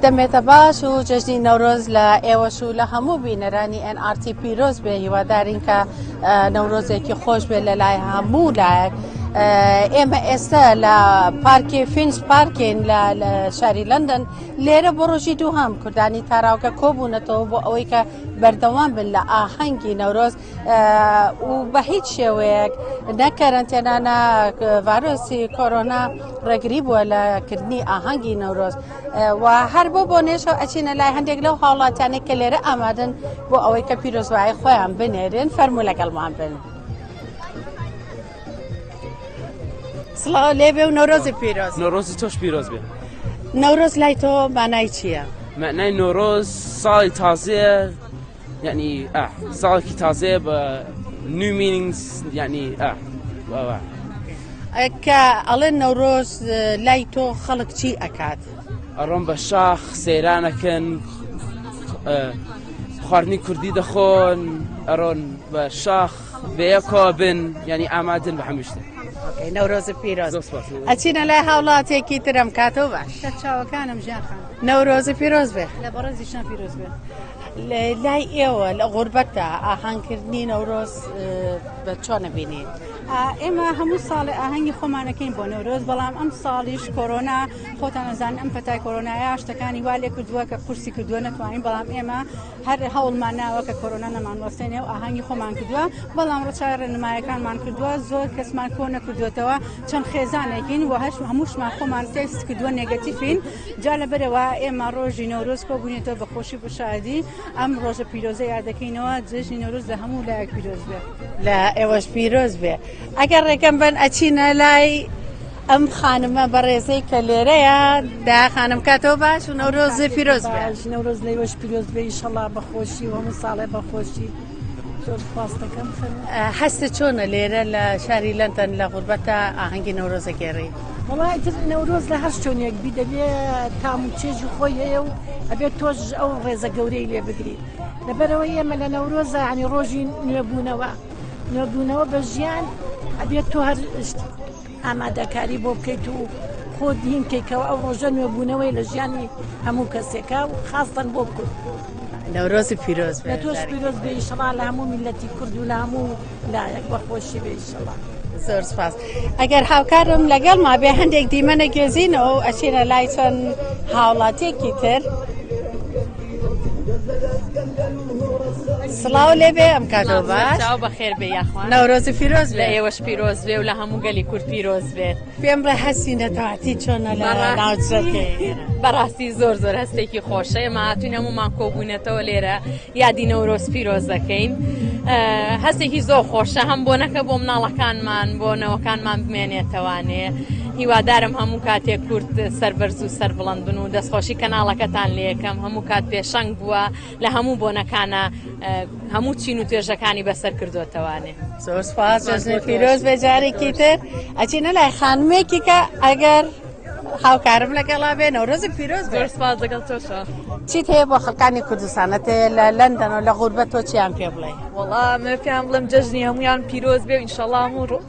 دەمێتە باش و جەژنی نەورۆز لە ئێوەش و لە هەموو بینەرانی NRT پیرۆز بێ هیوادارین کە نەورۆزێکی خۆش بێت لە لای هەموو لایەک. ئێمە ئێستا لە پارکی فینس پارکین لە شاری لەندەن لێرە بۆ ڕۆژی دووهام کوردانی تاراوگە کۆبوونەتەوە بۆ ئەوەی کە بەردەوام بن لە ئاهەنگی نەورۆز و بە هیچ شێوەیەک نە کەرەنتێنا نە ڤایرۆسی کۆرۆنا ڕێگری بووە لە کردنی ئاهەنگی نەورۆز و هەر بۆ بۆ نێشەوە ئەچینە لای هەندێک لەو هاوڵاتیانێک کە لێرە ئامادەن بۆ ئەوەی کە پیرۆزبایی خۆیان بنێرن فەرموو لەگەڵمان بن. سڵاو لێ بێ و نەورۆزی پیرۆز نەورۆزی تۆش پیرۆز بێ نەورۆز لای تۆ مانای چییە؟ مەعنای نۆرۆز ساڵی تازەیە یعنی ئا ساڵێکی تازەیە بە نیو مینینگس یعنی ئا واوا کە ئەڵێن نەورۆز لای تۆ خەڵک چی ئەکات ئەڕۆم بە شاخ سەیرانەکەن خواردنی کوردی دەخۆن ئەڕۆن بە شاخ بەیەکەوە بن ینی ئامادن بە هەموو شتێک ئۆکەی نەورۆز پیرۆز زۆر سپاس ئەچینە لای هاوڵاتێکی ترم کاتەوە باش کە چاوەکانم ژیان خان نەورۆز پیرۆز بێ لە بەڕێزی شان پیرۆز بێ لە- لای ئێوە لە غوربەتە ئاهانکردنی نەورۆز اه، بە چۆنە بینین ئا، ئێمە هەموو ساڵێ ئاهەنگی خۆمانەکەین بۆ نەورۆز بەڵام ئەم ساڵیش کۆرۆنا خۆتان ئەزان ئەم پەتای کۆرۆنایە شتەکانی وا لێ کردووە کە قورسی کردووە نەتوانین بەڵام ئێمە هەر هەوڵمان ناوە کە کۆرۆنا نەمانوەستێنێ و ئاهەنگی خۆمان کردووە بەڵام ڕچای ڕێنمایەکانمان کردووە زۆر کەسمان کۆ نەکردوێتەوە چەند خێزانێکین و هەش هەمووشمان خۆمان تست کردووە نێگەتیفین جا لە بەرەوە ئێمە ڕۆژی نەورۆز کۆبوونێتەوە بە خۆشی بشادی ئەم ڕۆژە پیرۆزە یادەکەینەوە جژنی نەورۆز لە هەموو لایەک پیرۆز بێ لە ئێوەش پیرۆز بێ ئەگەر ڕێکەم بن ئەچینە لای ئەم خانمە بەڕێزەی کە لێرەیە دا خانم کاتەوە باش و نەورۆزی پیرۆز نەورۆز لەیوەش پیرۆز بێ ئیشەڵا بەخۆشی و هەموو ساڵێ بەخۆشی خواستەکەم هەستە چۆنە لێرە لە شاری لەندەن لە غوربەتە ئاهەنگی نەورۆزە گێڕی وڵای تر نەورۆز لە هەر شوێنێک بی دەبێ تام و چێژ و خۆی هەیە و ئەبێت تۆش ئەو ڕێزە گەورەی لێ بگری لەبەرەوە ئێمە لە نەورۆزە عنی ڕۆژی نوێبوونەوە نوێبوونەوە بە ژیان ئەبێت تۆ هەر ئامادەکاری بۆ بکەیت و خۆت دین کەیتەوە ئەو ڕۆژە نوێبوونەوەی لە ژیانی هەموو کەسێکە و خاستەن بۆ بکرد نەورۆزی پیرۆز لە تۆش پیرۆز بێ ئیشەڵا لە هەموو میلەتی کرد و لە هەموو لایەک بەخۆشی بێ ئیشەڵا. زۆر سپاس ئەگەر هاوکارم لەگەڵ ما بێ هەندێک دیمەنە گێزینەوە و ئەچینە لای چەند هاوڵاتێکی تر. سڵاو لێ بێ ئەم کاتەوە باش چاو بەخێر بێ یاخوا نەورۆزی پیرۆز لە ئێوەش پیرۆز بێ و لە هەموو گەلی کورد پیرۆز بێت پێم بڵێ هەستی نەتەواتی چۆنە لە بەڕا- ناوچەکەی بەڕاستی زۆر زۆر هەستێکی خۆشە ئێمە هاتوین هەمومان کۆبوونەتەوە لێرە یادی نەورۆز پیرۆز دەکەین اه، هەستێکی زۆر خۆشە هەم بۆ نەکە بۆ مناڵەکانمان بۆ نەوەکانمان بمێنێتەوانێ هیوادارم هەموو کاتێک کورد سەربەرز و سەربڵند بن و دەستخۆشی کەناڵەکەتان لەکەم هەموو کات پێشەنگ بووە لە هەموو بۆنەکانە هەموو چین و توێژەکانی بەسەر کردوتەوانێ پیرۆز بەجارێکی تر ئەچینە لای خانمێکیکە ئەگەر هاوکارم لەگەڵا بێ نەورۆزی پیرۆز بەرسپاز لەگەڵ تۆشە چیت هەیە بۆ خەکانی کوردستانەت لە لەندەن و لە غوربەت تۆ چیان پێ بڵێ وڵام پێیان بڵم جەژنی هەمویان پیرۆز بێ ئینشەڵام و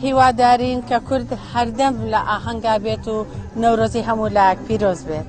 هیوادارین کە کورد هەردەم لە ئاهەنگا بێت و نەورۆزی هەموو لایەک پیرۆز بێت.